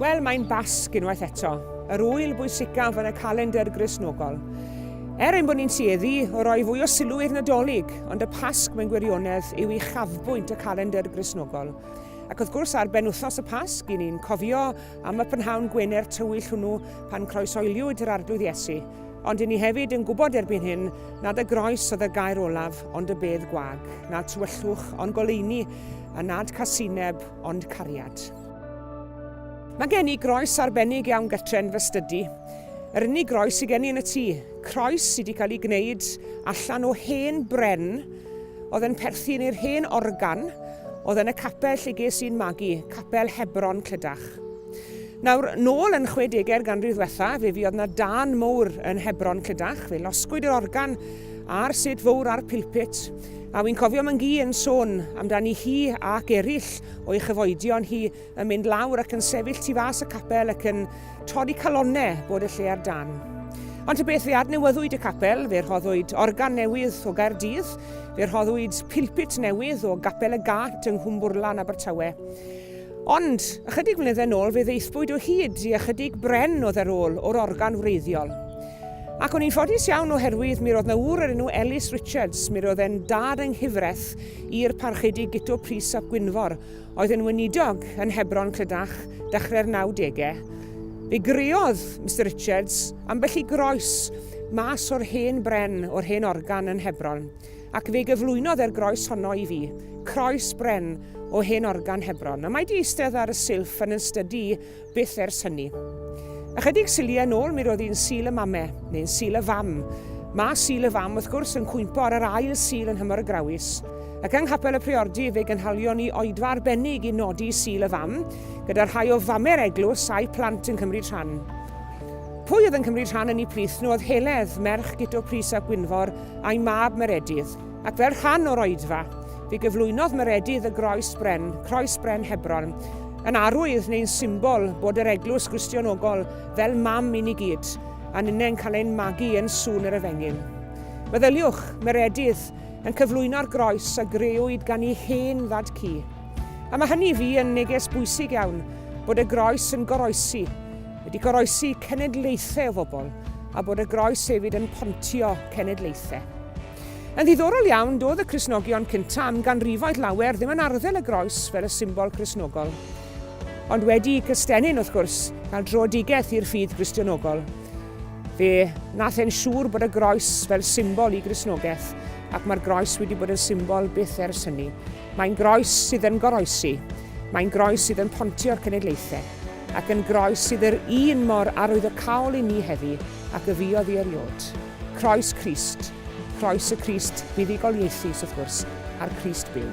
Wel, mae'n Basg unwaith eto, yr ŵyl bwysicaf yn y calendr Gristnogol. Er ein bod ni'n tueddu o roi fwy o sylw i'r Nadolig, ond y Pasg mewn gwirionedd yw i chafbwynt y calendr Gristnogol. Ac wrth gwrs ar ben wythnos y Pasg, i ni'n cofio am y prynhawn gwener tywyll hwnnw pan croesoeliwyd yr Arglwydd Iesu, Ond i ni hefyd yn gwybod erbyn hyn nad y groes oedd y gair olaf ond y bedd gwag, nad tywyllwch ond goleuni, a nad casineb ond cariad. Mae gen i groes arbennig iawn gytre'n fy stydi. Yr unig groes sydd gen i yn y tŷ. Croes sydd wedi cael ei gwneud allan o hen bren oedd yn perthyn i'r hen organ oedd yn y capel lle ges i'n magu, capel Hebron Clydach. Nawr, nôl yn chwedegau'r ganrif ddwetha, fe fuodd na dân mowr yn Hebron Clydach, fe losgwyd yr organ a'r set fowr a'r pilpit, a wi'n cofio Mangui yn sôn amdani hi ac erill o'i chyfoedion hi yn mynd lawr ac yn sefyll tu fas y capel ac yn torri calonnau bod y lle ar dân. Ond y beth fe adnewyddwyd y capel, fe rhoddwyd organ newydd o Gaerdydd, fe rhoddwyd pilpit newydd o Gapel y Gât yng Nghwmbwrlan, Abertawe. Ond, ychydig flynyddau nôl, fe ddaethpwyd o hyd i ychydig bren o dderôl o'r organ wreiddiol. Ac o'n i'n ffodus iawn oherwydd mi roedd na ŵr o'r enw Ellis Richards, mi roedd e'n dad yng nghyfraith i'r Parchedig Guto Prys ap Gwynfor, oedd yn weinidog yn Hebron, Clydach, dechrau'r nawdegau. Fe greodd Mister Richards ambell i groes mas o'r hen bren o'r hen organ yn Hebron. ac fe gyflwynodd e'r groes honno i fi, croes bren o hen organ Hebron, a mae di eistedd ar y silff yn yn stydi i byth ers hynny. Ychydig syliau yn ôl mi roedd hi'n sil y mame, neu'n sil y fam. Mae sil y fam, wrth gwrs, yn cwympo ar yr ail sil yn hymor y grawys. Ac yng Nghapel y Priordy fe gynhalion ni oedfa arbennig i nodi sil y fam, gyda rhai o fame'r eglwys a'i plant yn cymryd rhan. Pwy oedd yn cymryd rhan yn ei plith nhw oedd Heledd, merch Guto Prys a Gwynfor, a'i mab Meredydd, ac fel rhan o'r oedfa, fe gyflwynodd Meredydd y groes bren, croes bren Hebron, yn arwydd neu'n symbol bod yr eglwys Gristionogol fel mam i ni gyd, a ninnau'n cael ein magu yn sŵn yr efengyn. Meddyliwch, Meredydd yn cyflwyno'r groes a greuwyd gan ei hen ddad cu. A mae hynny i fi yn neges bwysig iawn, bod y groes yn goroesi, wedi goroesi cenedlaethau o fobl a bod y groes hefyd yn pontio cenedlaethau. Yn ddiddorol iawn, doedd y Crisnogion cyntaf am ganrifoedd lawer ddim yn arddel y groes fel y symbol Crisnogol. Ond wedi cystenyn, wrth gwrs, cael drodigeth i'r ffydd Gristionogol, fe nath e'n siŵr bod y groes fel symbol i Grisnogaeth ac mae'r groes wedi bod yn symbol byth ers hynny. Mae'n groes sydd yn goroesi. Mae'n groes sydd yn pontio'r cenedlaethau. Ac yn groes sydd yr un mor arwyddocaol i ni heddi ac y fuodd i eriod. Croes Crist. Croes y Crist buddugoliaethus, wrth gwrs, a'r Crist byw.